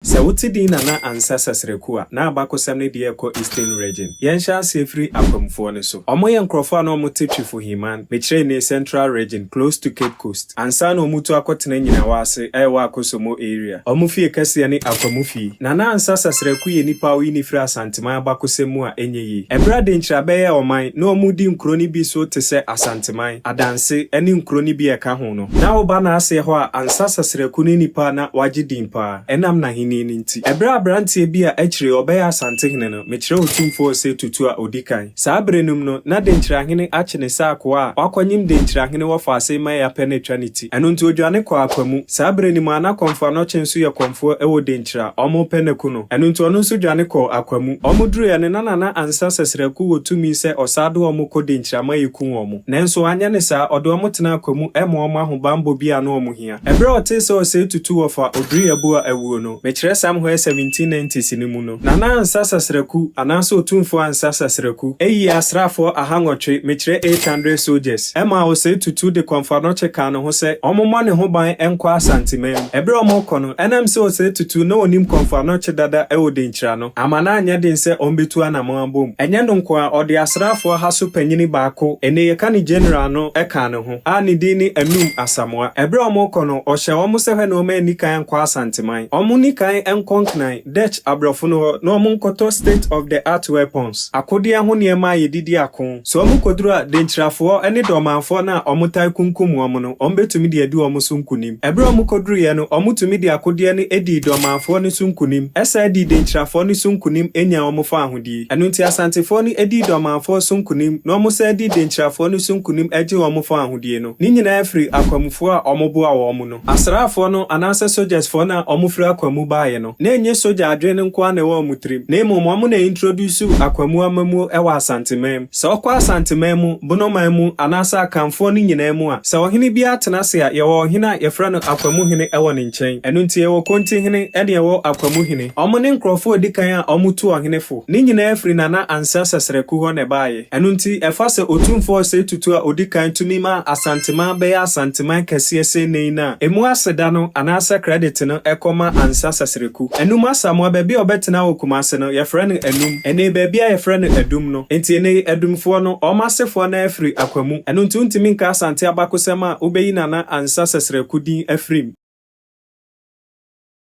Sɛ wo te din Nana Ansah Sasraku a, na abakɔsɛm no deɛ ɛkɔ Eastern Region. Yɛn hyɛ aseɛ firi Akwamfoɔ no so. Ɔmo yɛ nkorɔfoɔ a na ɔmo te Twifo Himan, mekyerɛ nnee Central Region, close to Cape Coast. Ansa na ɔmo tu akɔ tena Nyinawa ase a ɛwɔ Akosomo area. Ɔmo fie kɛseɛ ne Akwamu fie. Nana Ansah Sasraku yɛ nipa a woyi no firi Asanteman abakɔsɛm mu a ɛnyɛ yie. Ɛberɛ a Denkyira bɛyɛɛ ɔman, na ɔmo di nkuro no bi so te sɛ Asanteman, Adanse, ɛne nkuro no bi a ɛka ho. ho no. Ná ɔba n'aseɛ hɔ a ansa Sasraku ne nipa a na wagye din pa ara ɛnam n'ahennie no nti. Ɛberɛ a aberanteɛ bi a akyire ɔbɛyɛ Asantehene no, mekyerɛ Otumfoɔ Osei Tutu a ɔdi kan. Saa berɛ no mu no, na Denkyirahene akye ne sɛ akoa a wakɔnyem Denkyirahene wɔ Faasei ma Eapɛ no atwa ne ti. Ɛno nti ɔdwane kɔɔ Apamu. Saa berɛ no mu ara na Kɔmfoanɔkye nso yɛ kɔmfoɔ wɔ Denkyira. Wɔrepɛ no aku no. Ɛno nti ɔno nso dwane kɔɔ Akwamu. Wɔduruiɛ no na Nana Ansa Sasraku wɔ tumi sɛ ɔsaa de wɔn kɔ Denkyira ma yɛku wɔn. Nanso anyɛ ne saa, ɔde wɔn tenaa kwa mu ma wɔn ahobammɔ bi a na wɔn hia. Bere a ɔtee sɛ ɔsɛe tutu wɔ fa Oduruyabua awuo no, mekyerɛ Sam Hoyer 1790s no mu no, Nana Ansa Sasraku, anaasɛ Otumfoɔ Ansa Sasraku, yii asraafoɔ ahanwɔtwe, mekyerɛ eight hundred soldiers, maa ɔsɛe tutu de kɔmfoanɔkye kaa ne ho sɛ wɔmmɔ ne ho ban nkɔ Asanteman. Bere a wɔrekɔ no, ɛnam sɛ ɔsɛe tutu na ɔnim kɔmfoanɔkye dada wɔ Denkyira no, Amma na anyɛ den sɛ ɔmbetu anamɔn abom. Ɛnyɛ no nko ara, ɔde asraafo ɔha so panyin baako, ene yɛka no General no, kaa ne ho, a ne din ne Anum Asamoah. Bere a wɔrekɔ no, ɔhyɛɛ wɔn sɛ hwɛ na wɔn anni kan ankɔ Asanteman. Wɔnni kan nkɔ Nkran, Dutch aborɔfo no hɔ, na wɔnkɔtɔ state of the art weapons, akodeɛ ho nneɛma a yɛde di ako. Sɛ wɔkɔduru a, Denkyirafoɔ ne Dormanfoɔ no a wɔtaa kunkum wɔn no, wɔbɛtumi de adi wɔn so nkonim. Ɛberɛ a wɔkɔduruiɛ no, wɔtumi de akodeɛ no dii Dormanfoɔ no so nkonim, san dii Denkyirafoɔ no so nkonim nyaa wɔn fawohodie. Ɛno nti Asantefoɔ no dii Dormanfoɔ so nkonim na wɔsan dii Denkyirafoɔ no so nkonim gyee wɔn fawohodie no. Ne nyinaa firi akwamufoɔ a wɔboaa wɔn no. Asraafoɔ no anaasɛ sogyasfoɔ no a wɔfiri akwaa mu baeɛ no, na ɛnyɛ sogya adwene no nko ara na ɛwɔ wɔn tirim, na mmom wɔn na introduce akwaa mu amammuo wɔ Asanteman mu. Sɛ wokɔ Asanteman mu, Bonoman mu, anaasɛ Akanfoɔ no nyinaa mu a, sɛ ɔhene biara tena ase a, yɛwɔ ɔhene a yɛfrɛ no akwaa mu hene wɔ ne nkyɛn. Ɛno nti yɛwɔ Konti hene ne ɛwɔ akwaa mu hene. Wɔn ne nkurɔfoɔ a ɛdi kan a wɔtu ɔhene fo. Ne nyinaa firi Nana Ansah Sasraku hɔ na ɛbaeɛ. Ɛno nti, ɛfa sɛ Otumfoɔ Osei Tutu a odi kan tumi ma Asanteman bɛyɛ Asanteman kɛseɛ sei nnɛ yi no a, emu aseda no anaasɛ credit no kɔ ma Ansah Sasreku. Anum Asamoah, baabi a ɔbɛtena wɔ Kumase no, yɛfrɛ no Anum. Nnɛ yi, baabi a yɛfrɛ no Adum no. Enti nnɛ yi, Adumfoɔ no, wɔn asefoɔ no ara firi Akwa mu. Ɛno nti wontumi nka Asante abakosɛm a wobɛyi Nana Ansah Sasreku din afiri mu.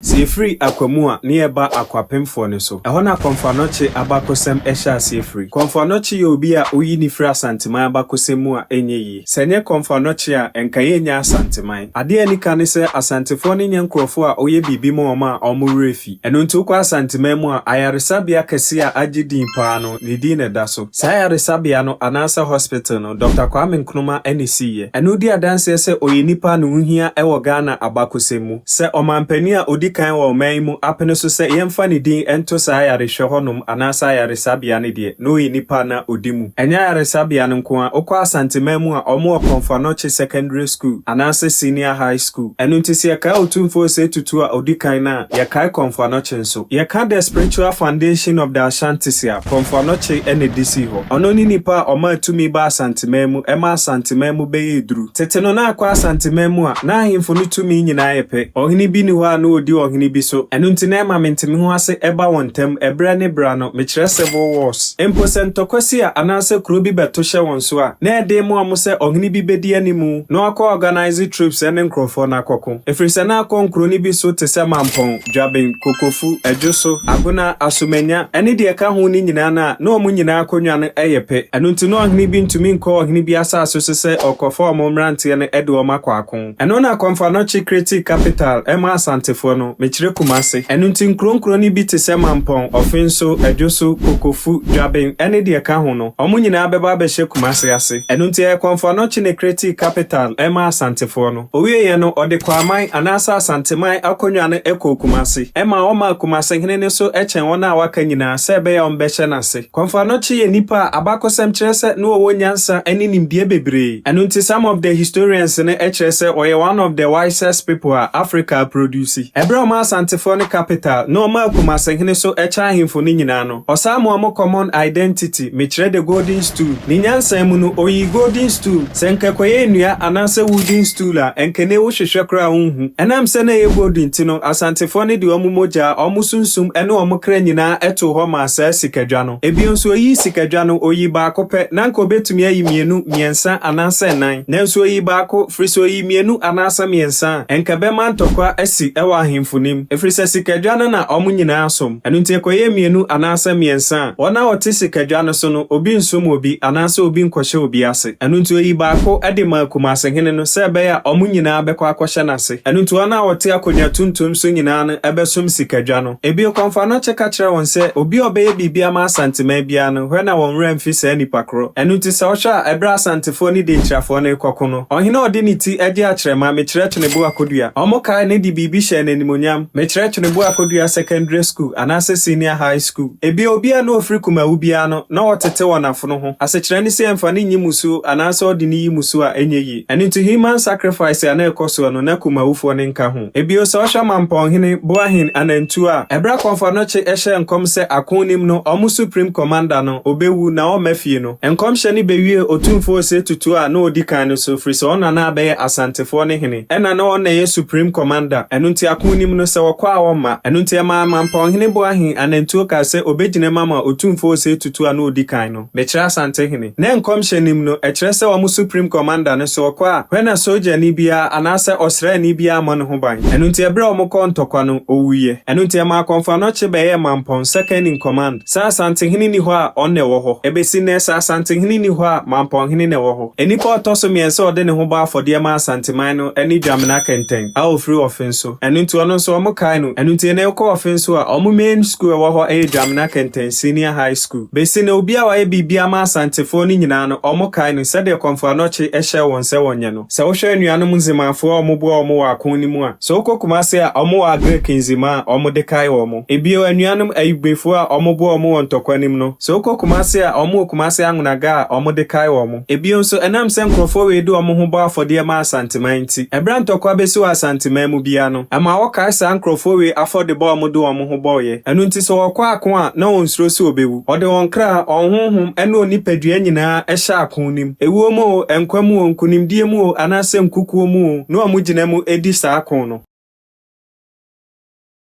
Sɛ yɛfiri akwa mu a, ne yɛba akwapemfoɔ no so. Ɛhɔ na Kɔmfoanɔkye abakɔsɛm hyɛ aseɛ firi. Kɔmfoanɔkye yɛ obi a woyi no firi Asanteman abakɔsɛm mu a ɛnyɛ yie. Sɛ ɛnyɛ Kɔmfoanɔkye a, nka yɛnnya Asanteman. Adeɛ a ɛnika ne sɛ Asantefoɔ no nyɛ nkorɔfoɔ a woyɛ biribi ma wɔn a wɔn werɛ fi. Ɛno nti wokɔ Asanteman mu a, ayaresabea kɛseɛ a agye din pa ara no, ne din na ɛda so. Saa ayaresabea no anaasɛ hospital no, Dɔkta Kwame Nkrumah ɛne siiɛ. Ɛno di adanseɛ sɛ ɔyɛ nipa a ne ho hia wɔ Ghana abakɔsɛm mu. Sɛ ɔmanpanin a ɔdi kan wɔ ɔman yi mu apene so sɛ yɛmfa ne din nto saa ayarehwɛ hɔ nom anaasɛ ayaresabea no deɛ, na ɔyɛ nipa a na ɔdi mu. Ɛnyɛ ayaresabea no nko ara, wokɔ Asanteman mu a, wɔwɔ Komfo-Anokye Secondary School anaasɛ Senior High School. Ɛno nti sɛ yɛkae Otumfoɔ Osei Tutu a ɔdi kan no a, yɛkae Komfo-Anokye nso. Yɛka The Spiritual Foundation of the Ashantis a, Prɔfo Anokye na edi sii hɔ. Ɔno ne nipa a ɔmaa tumi baa Asanteman mu ma Asanteman mu bɛyɛɛ duru. Tete no na akɔ Asanteman mu a, na ahemfo no tumi nyinaa yɛ pɛ. Ɔhene bi nni hɔ a na odi ɔhene bi so. Ɛno nti na ɛma mentemehoase ba wɔn ntam bere ne bere ano, mekyerɛ civil wars. Mpo sɛ ntɔkwa si a anaasɛ kurow bi bɛto hyɛ wɔn so a, na ɛyɛ den ma wɔn sɛ ɔhene bi bedi anim na wakɔ organise troops ne nkurɔfoɔ no akɔko. Ɛfiri sɛ na akɔ nkuro no bi so te sɛ mampɔn. Dwaben, Kokofu, Adwoso, Agona, Asomanya, ne deɛ ɛka ho no nyinaa no a, na wɔn nyinaa akonnwa no yɛ pɛ. Ɛno nti na ɔhene bi ntumi nkɔ ɔhene bi asase so sɛ ɔrekɔfa wɔn mmeranteɛ no de wɔn akɔ ako. Ɛno na Kɔmfanɔkye created capital maa Asantefoɔ no, mekyerɛ Kumase. Ɛno nti nkuro nkuro no bi te sɛ Mampɔn, Ɔfenso, Adwoso, Kokofu, Dwaben, ne deɛ ɛka ho no, wɔn nyinaa bɛba abɛhyɛ Kumase ase. Ɛno nti ɛyɛ Kɔmfanɔkye na ɛcreated capital maa Asantefoɔ no. Ɔwieeɛ no, ɔde Kwaaman anaasɛ Asanteman akonnwa no kɔɔ Kumasi. Ɛmaa wɔmaa Kumasi hene no so kyɛn wɔn a wɔaka nyinaa sɛ ɛbɛyɛ a wɔbɛhyɛ no ase. Kɔmfoanokye yɛ nnipa a abakɔsɛm kyerɛ sɛ na wɔwɔ nyansa ne nimdeɛ bebree. Ɛno nti some of the historians no kyerɛ sɛ ɔyɛ one of the wisest people a Africa aprodusi. Ɛberɛ a wɔmaa Asantefoɔ no capital na wɔmaa Kumasi hene so kyɛn ahemfo no nyinaa no, Ɔsamoa mu Common Identity, Mekyerɛ the Golden Stool. Ne nyansa mu no, oyii Golden Stool. Sɛ nka ɛkɔyɛ nnua anaasɛ wooden stool a, ɛnka ɛnnɛ wohwehwɛ koraa a wunhu. Ɛnam sɛ na ɛyɛ golden nti no, Asantefoɔ no de wɔn mogya, wɔn sunsum ne wɔn kra nyinaa too hɔ maa saa sikadwa no. Bio nso, oyii sikadwa no, oyii baako pɛ. Na anka obetumi ayi mmienu, mmiɛnsa anaasɛ nnan. Nanso oyii baako, ɛfiri sɛ oyii mmienu anaasɛ mmiɛnsa a, ɛnka ɛbɛma ntɔkwa asi wɔ ahemfo no mu, ɛfiri sɛ sikadwa no na wɔn nyinaa som. Ɛno nti ɛkɔyɛ mmienu anaasɛ mmiɛnsa a, wɔn a wɔte sikadwa no so no, obi nsom obi anaasɛ obi nkɔhyɛ obi ase. Ɛno nti ɔyii baako de maa Kumaasehene no sɛ ɛbɛyɛ a wɔn nyinaa bɛkɔ akɔhyɛ no ase. Ɛno nti wɔn a wɔte akonnwa tuntum so nyinaa no bɛsom sikadwa no. Bio, Kɔmfoanokyɛ ka kyerɛɛ wɔn sɛ, Obi a ɔbɛyɛ biribi ama Asanteman biara no, hwɛ na wɔn werɛ mfi saa nipa korɔ. Ɛno nti sɛ wohwɛ a, ɛberɛ a Asantefoɔ ne Denkyirafoɔ no rekɔko no, ɔhene a ɔde ne ti agye akyerɛma, Mekyerɛkyene Boakodua, wɔkaee no de biribi hyɛɛ no animuonyam, Mekyerɛ Twenebu Akodua Secondary School anaasɛ Senior High School. Ebia obiara na ɔfiri Kumawu biara no na ɔtete wɔn afono ho. Asekyerɛ ne sɛ ɛmfa no nyi musuo anaasɛ ɔde no yi musuo a ɛnyɛ yie. Ɛno nti human sacrifice a na ɛkɔ soɔ no na Kumawufoɔ no nka ho. Bio sɛ wohwɛ Mampɔnhene, Boahen, Anantuo a, ɛberɛ a Kɔmfoanokye hyɛɛ nkɔm sɛ ako nnim no wɔn Supreme Commander no ɔbɛwu na wɔmma fie no, nkɔmhyɛ no bɛwiee Otumfoɔ Osei Tutu a na ɔdi kan no so firi sɛ ɔno na na abɛyɛ Asantefoɔ no hene. Ɛnna na ɔno na ɛyɛ supreme commander, ɛno nti ako nnim no, sɛ wɔkɔ a wɔmma. Ɛno nti ɛmaa Mampɔn hene Boahen Anantuo kaa sɛ ɔbɛgyinam ama Otumfoɔ Osei Tutu a na ɔdi kan no, mekyerɛ Asante hene. Na nkɔmhyɛ nnim no, ɛkyerɛ sɛ wɔn supreme commander no, sɛ ɔkɔ a, hwɛ na sogyani biara anaasɛ ɔsraani biara mmɔ ne ho ban. Ɛno nti ɛberɛ a wɔkɔɔ ntɔkwa no, ɔwuiɛ. Ɛno nti ɛmaa Kɔmfoanɔkye bɛyɛɛ Mampɔn second in command. Sɛ Asantehene nni hɔ a, ɔno na ɛwɔ hɔ. Ɛbɛsi nnɛ, sɛ Asantehene nni hɔ a, Mampɔnhene na ɛwɔ hɔ. Nnipa a ɔtɔ so mmiɛnsa a ɔde ne ho bɔ afɔdeɛ ma Asanteman no ne Dwamena Kɛntɛn a ɔfiri Ɔfenso. Ɛno nti, ɔno nso wɔkae no. Ɛno nti, nnɛ wokɔ Ɔfenso a, wɔn main school a ɛwɔ hɔ yɛ Dwamena Kɛntɛn Senior High School. Bɛsi nnɛ, obi a wayɛ biribiara ma Asantefoɔ no nyinaa no, wɔkae no sɛdeɛ Kɔmfoɔ Anɔkye hyɛɛ wɔn sɛ wɔnyɛ no. Sɛ wohwɛ anuanom ndzemafo a wɔboa hɔn wɔ akõ no mu a, sɛ wokɔ Kumase a, wɔwɔ Agric ndzima a wɔde kae hɔn. Bio, anuanom Ayugbefo a wɔboa hɔn wɔ ntɔkwa no mu no, sɛ wokɔ Kumase a, wɔwɔ Kumase Angonaga a wɔde kae hɔn. Bio so, ɛnam sɛ nkorɔfoɔ wei de wɔn ho bɔ afɔdeɛ ma Asanteman nti, ɛberɛ a ntɔkwa bɛsi wɔ Asanteman mu biara no, ɛma wɔkae saa nkorɔfoɔ wei afɔdebɔ a wɔde wɔn ho bɔeɛ. Ɛno nti, sɛ wɔkɔ akõ a, na wɔnsuro sɛ wɔbɛwu. Wɔde wɔn kra, wɔn honhom, ne wɔn nipadua nyinaa hyɛ akõ no mu. Ewuo mu o, nkwa mu o, nkunimdie mu o, anaasɛ nkukuo mu o, na wɔgyina mu di saa ko no.